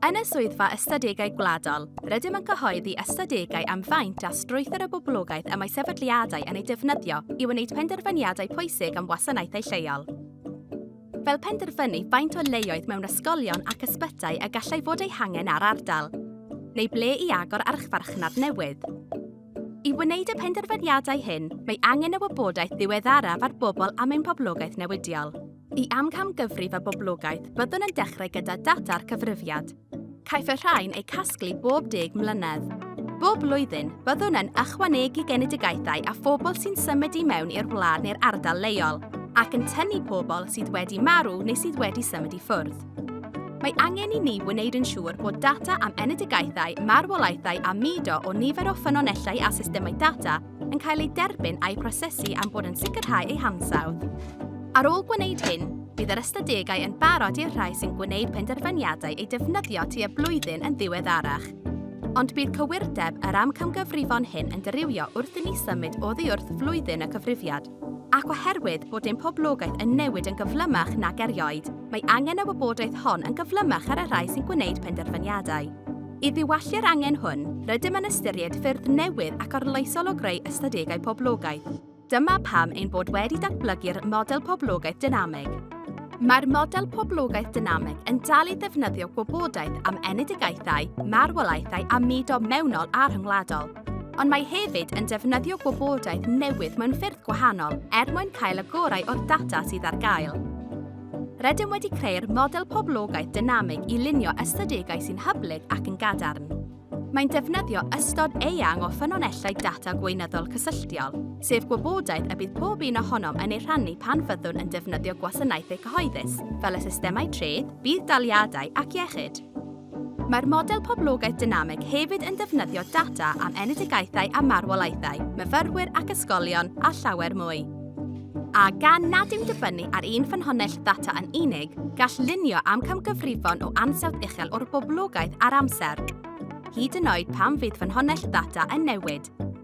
Yn y Swyddfa Ystadegau Gwladol, rydym yn cyhoeddi ystadegau am faint a strwythur y boblogaeth y mae sefydliadau yn ei defnyddio i wneud penderfyniadau pwysig am wasanaethau lleol. Fel penderfynu faint o leoedd mewn ysgolion ac ysbytai y gallai fod eu hangen ar ardal, neu ble i agor archfarchnad newydd. I wneud y penderfyniadau hyn, mae angen y wybodaeth ddiweddaraf ar bobl am ein poblogaeth newidiol. Y amcangyfrif a boblogaeth byddwn yn dechrau gyda data'r cyfrifiad. Caiff y rhain eu casglu bob deg mlynedd. Bob blwyddyn, byddwn yn ychwanegu genedigaethau a phobl sy'n symud i mewn i'r wlad neu'r ardal leol, ac yn tynnu pobl sydd wedi marw neu sydd wedi symud i ffwrdd. Mae angen i ni wneud yn siŵr bod data am enedigaethau, marwolaethau a mudo o nifer o ffynonellau a systemau data yn cael eu derbyn a'u prosesu am bod yn sicrhau eu hansawdd. Ar ôl gwneud hyn, bydd yr ystadegau yn barod i'r rhai sy'n gwneud penderfyniadau eu defnyddio tu a blwyddyn yn ddiweddarach. Ond bydd cywirdeb yr amcamgyfrifon hyn yn dirywio wrth i ni symud oddi wrth flwyddyn y cyfrifiad. Ac oherwydd bod ein poblogaeth yn newid yn gyflymach nag erioed, mae angen y wybodaeth hon yn gyflymach ar y rhai sy'n gwneud penderfyniadau. I ddiwallu'r angen hwn, rydym yn ystyried ffyrdd newydd ac arloesol o greu ystadegau poblogaeth. Dyma pam ein bod wedi datblygu'r Model Poblogaeth Dynameg. Mae'r Model Poblogaeth Dynameg yn dal i ddefnyddio gwybodaeth am enedigaethau, marwolaethau a mudo mewnol a rhyngwladol. ond mae hefyd yn defnyddio gwybodaeth newydd mewn ffyrdd gwahanol er mwyn cael y gorau o'r data sydd ar gael. Rydym wedi creu'r model poblogaeth dynamig i lunio ystadegau sy'n hyblyg ac yn gadarn. Mae'n defnyddio ystod eang o ffynonellau data gweinyddol cysylltiol, sef gwybodaeth y bydd pob un ohonom yn ei rhannu pan fyddwn yn defnyddio gwasanaethau cyhoeddus, fel y systemau treth, budd-daliadau ac iechyd. Mae'r model poblogaeth dynamig hefyd yn defnyddio data am enedigaethau a marwolaethau, myfyrwyr ac ysgolion, a llawer mwy. A gan nad yw'n dibynnu ar un ffynhonnell ddata yn unig, gall lunio am camgyfrifon o ansawdd uchel o'r boblogaeth ar amser, hyd yn oed pan fydd ffynhonnell ddata yn newid.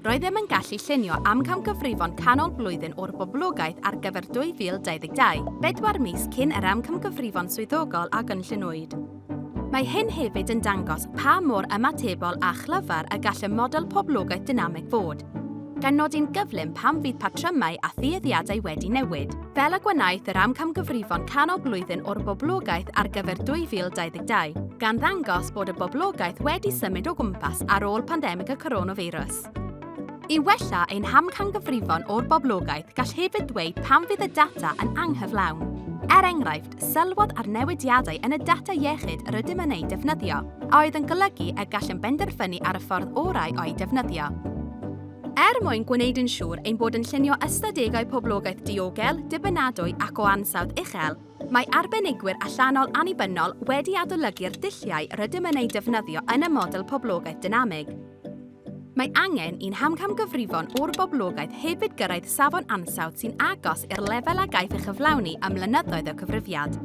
Roeddem yn gallu llunio amcamgyfrifon canol blwyddyn o'r boblogaeth ar gyfer 2022, bedwar mis cyn yr amcamgyfrifon swyddogol a gynlluniwyd. Mae hyn hefyd yn dangos pa mor ymatebol a chlyfar y gall y model poblogaeth dynamig fod, gan nodi'n gyflym pam fydd patrymau a thueddiadau wedi newid. fel y gwenaeth yr amcamgyfrifon canol blwyddyn o'r boblogaeth ar gyfer 2022, gan ddangos bod y boblogaeth wedi symud o gwmpas ar ôl pandemig y coronafeirws. I wella ein hamcangyfrifon o'r boblogaeth, gall hefyd ddweud pam fydd y data yn anghyflawn. Er enghraifft, sylwodd ar newidiadau yn y data iechyd yr ydym yn eu defnyddio, a oedd yn golygu y gallem benderfynu ar y ffordd orau o'i defnyddio. Er mwyn gwneud yn siŵr ein bod yn llunio ystadegau poblogaeth diogel, dibynadwy ac o ansawdd uchel, mae arbenigwyr allanol annibynnol wedi adolygu'r dulliau rydym yn eu defnyddio yn y model poblogaeth dynamig. Mae angen i'n hamcamgyfrifon o'r boblogaeth hefyd gyrraedd safon ansawdd sy'n agos i'r lefel a gaiff ei chyflawni ym mlynyddoedd o cyfrifiad.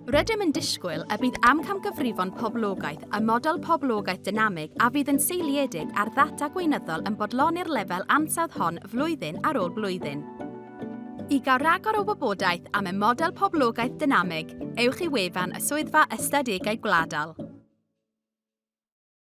Rydym yn disgwyl y bydd amcamgyfrifon poblogaeth y model poblogaeth dynamig a fydd yn seiliedig ar ddata gweinyddol yn bodloni'r lefel ansawdd hon flwyddyn ar ôl blwyddyn. I gael rhagor o wybodaeth am y model poblogaeth dynamig, ewch i wefan y Swyddfa Ystadegau Gwladol.